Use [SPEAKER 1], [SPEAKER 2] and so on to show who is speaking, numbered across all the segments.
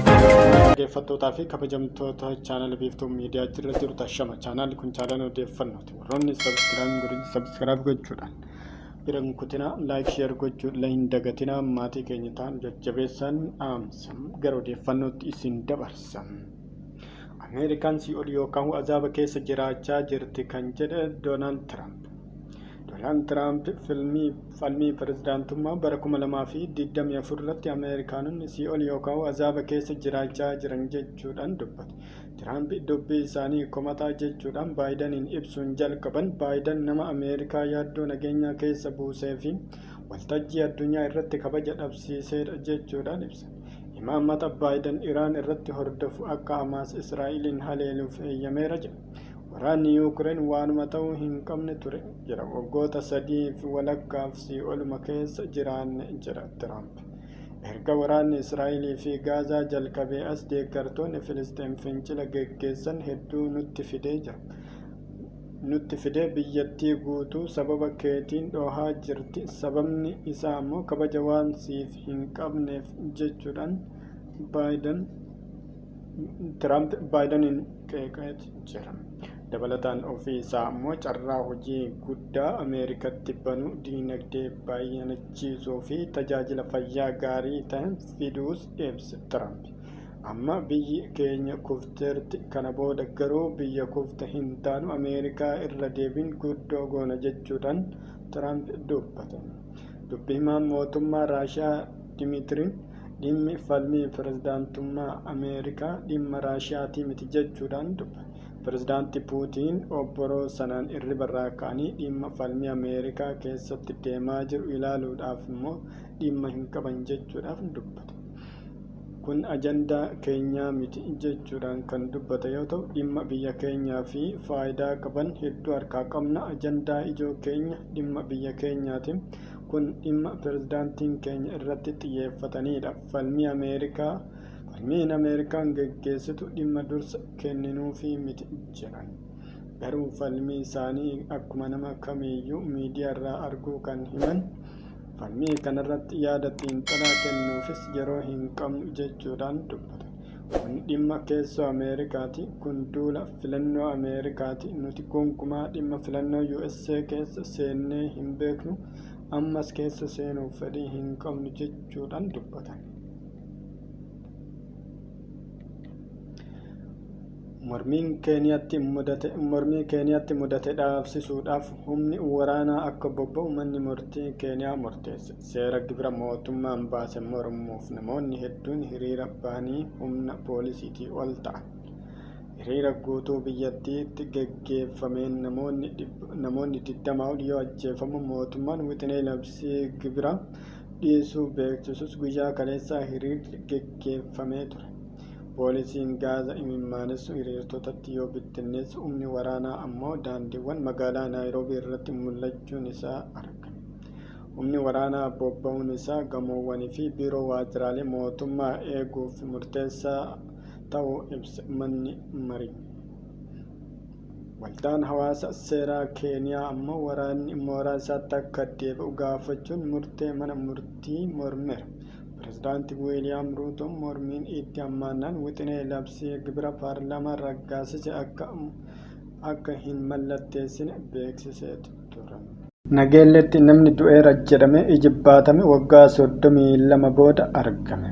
[SPEAKER 1] dhaggeeffattootaa fi kabajamtoota chaanal biiftuu miidiyaa jirra jiru tashama chaanaalli kun chaanaalli odeeffannooti warroonni sabiskiraayib godhin sabiskiraayib gochuudhaan bira hin kutinaa laayik sheer gochuu illee hin dagatinaa maatii keenya ta'an jajjabeessaan dhaamsa gara odeeffannootti isin dabarsa. Ameerikaan sii'ol yookaan azaaba keessa jiraachaa jirti kan jedhe Doonaald Tiraamp. Doonaald Tiraamp filmii falmii pirezidaantummaa bara 2024 irratti Ameerikaanonni sii'ol yookaan azaaba keessa jiraachaa jiran jechuudhaan dubbate. Tiraamp dubbii isaanii komataa jechuudhaan Baayidaniin ibsuun jalqaban Baayidan nama Ameerikaa yaaddoo nageenyaa keessa buusee fi waltajjii addunyaa irratti kabaja dhabsiiseedha jechuudhaan ibse. Imaaraat imaammata Baayidan Iraan irratti hordofu akka Hamaas Israa'eliin haleeluuf eeyyameera jedhe. Waraanni Yuukireen waanuma ta'uu hin qabne ture jedha. Waggoota sadiif walakkaaf sii'oluma keessa jiraanne jedha Tiraamp. Erga waraanni Israa'elii fi Gaazaa jalqabee as deeggartoonni Filisxeem fincila geggeessan hedduu nutti fidee jira. nutti fidee biyyattii guutuu sababa keetiin dhoohaa jirti sababni isaa ammoo kabaja waan siif hin qabneef jechuudhaan Baayidan Tiraamp Baayidaniin qeeqaa jira. Dabalataan ofii isaa ammoo carraa hojii guddaa Ameerikatti banu diinagdee baay'anachiisuu fi tajaajila fayyaa gaarii ta'e fiduus ibse Tiraamp. Amma biyyi keenya kufteerti. Kana booda garuu biyya kufte hin taanu, Ameerikaa irra deebiin guddoo goona jechuudhaan Tiraamp dubbatan. Dubbi himaan mootummaa Raashiyaa Dimiitiri, dhimmi falmii pirezidaantummaa Ameerikaa dhimma Raashiyaatii miti jechuudhaan dubbate. Pirezidaanti Puutiin obboroo sanaan irribarraa ka'anii dhimma falmii Ameerikaa keessatti deemaa jiru ilaaluudhaaf immoo dhimma hin qaban jechuudhaaf dubbate. Kun ajandaa keenyaa miti jechuudhaan kan dubbate yoo ta'u, dhimma biyya keenyaa fi faayidaa qaban hedduu harkaa qabna. Ajandaa ijoo keenya dhimma biyya keenyaati. Kun dhimma pirezidaantiin keenya irratti xiyyeeffataniidha. Falmii Ameerikaa Falmiin Ameerikaan geggeessitu dhimma dursa kenninuufii miti jedhan. Garuu falmii isaanii akkuma nama kamiiyyuu miidiyaarraa arguu kan himan Falmii kanarratti yaada xiinxalaa kennuufis yeroo hin qabnu jechuudhaan dubbatan. Kun dhimma keessoo Ameerikaati, kun duula filannoo Ameerikaati, nuti gonkumaa dhimma filannoo USA keessa seennee hin beeknu, ammas keessa seenuuf fedhii hin qabnu jechuudhaan dubbatan. Mormiin Keeniyaatti mudate mormii Keeniyaatti mudate dhaabsisuudhaaf humni waraanaa akka bobba'u manni murtii Keeniyaa murteesse. Seera gibira mootummaan baase mormuuf namoonni hedduun hiriira bahanii humna poolisiitii ol ta'an. Hiriira guutuu biyyattiitti geggeeffameen namoonni 20 ol yoo ajjeefamu mootummaan wixinee labsii gibira dhiisuu beeksisus guyyaa kaleessaa hiriirri geggeeffamee ture. Poolisiin gaaza imimmaanessu hiriirtotatti yoo bittinneessu humni waraanaa ammoo daandiiwwan magaalaa Naayiroobii irratti mul'achuun isaa argame. Humni waraanaa bobba'uun isaa gamoowwanii fi biiroo waajjiraalee mootummaa eeguuf murteessaa ta'uu ibse manni marii. Waldaan hawaasa seeraa Keeniyaa ammoo waraanni mooraa isaatti akka deebi'u gaafachuun murtee mana murtii mormeera. Pirezidaanti Wiiliyaam Ruutoon mormiin itti hammaannaan wixinee labsii gibira paarlaamaan raggaasise akka hin mallatteessine beeksisee ture. turan. Nageelleetti namni du'eera jedhamee ijibbaatame waggaa 32 booda argame.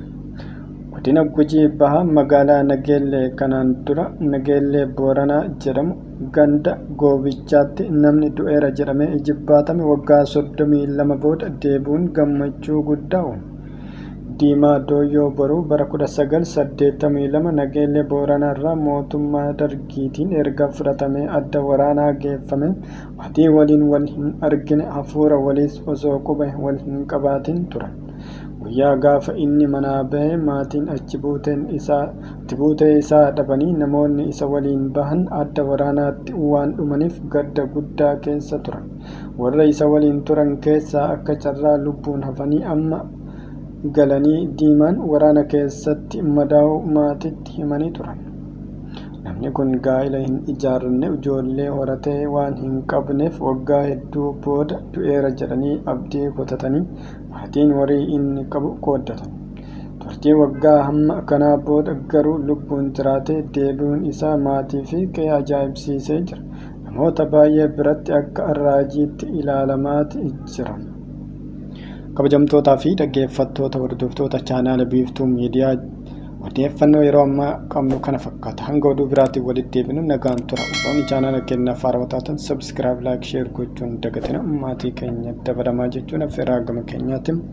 [SPEAKER 1] Godina Gujii Bahaa magaalaa Nageellee kanaan dura Nageellee Booranaa jedhamu ganda Goobichaatti namni du'eera jedhamee ijibbaatame waggaa 32 booda deebi'uun gammachuu guddaa uume. Diimaa Dooyyoo Boruu bara 1982 Nageellee Booranaarraa mootummaa Dargiitiin erga fudhatamee adda waraanaa geeffame. Atii waliin wal hin argine hafuura waliis osoo quba wal hin qabaatin turan. Guyyaa gaafa inni manaa bahe maatiin achi buuteen isaa achi buutee isaa dhabanii namoonni isa waliin bahan adda waraanaatti waan dhumanif gadda guddaa keessa turan. Warra isa waliin turan keessaa akka carraa lubbuun hafanii amma galanii Diimaan waraana keessatti madaa'uu maatitti himanii turan. Namni kun gaa'ila hin ijaarranne, ijoollee horate waan hin qabneef waggaa hedduu booda du'eera jedhanii abdii kutatanii maatiin horii inni qabu qooddatan. Turtii waggaa hamma kanaa booda garuu lubbuun jiraatee deebi'uun isaa maatii fi qe'ee ajaa'ibsiisee jira. Namoota baay'ee biratti akka raajiitti ilaalamaati jira. Kabajamtootaa fi dhaggeeffattoota hordoftoota chaanaala Biiftuu Miidiyaa Odeeffannoo yeroo ammaa qabnu kana fakkaata. Hanga oduu biraatiin walitti deebinu nagaan tura. Warroonni chaanaala keenyaaf haarawaa taatan sabiskiraayib, laayik, sheer gochuun dagatina maatii keenya dabalamaa jechuun affeerraa gama keenyaatiin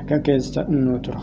[SPEAKER 1] nagaa keessa nu tura.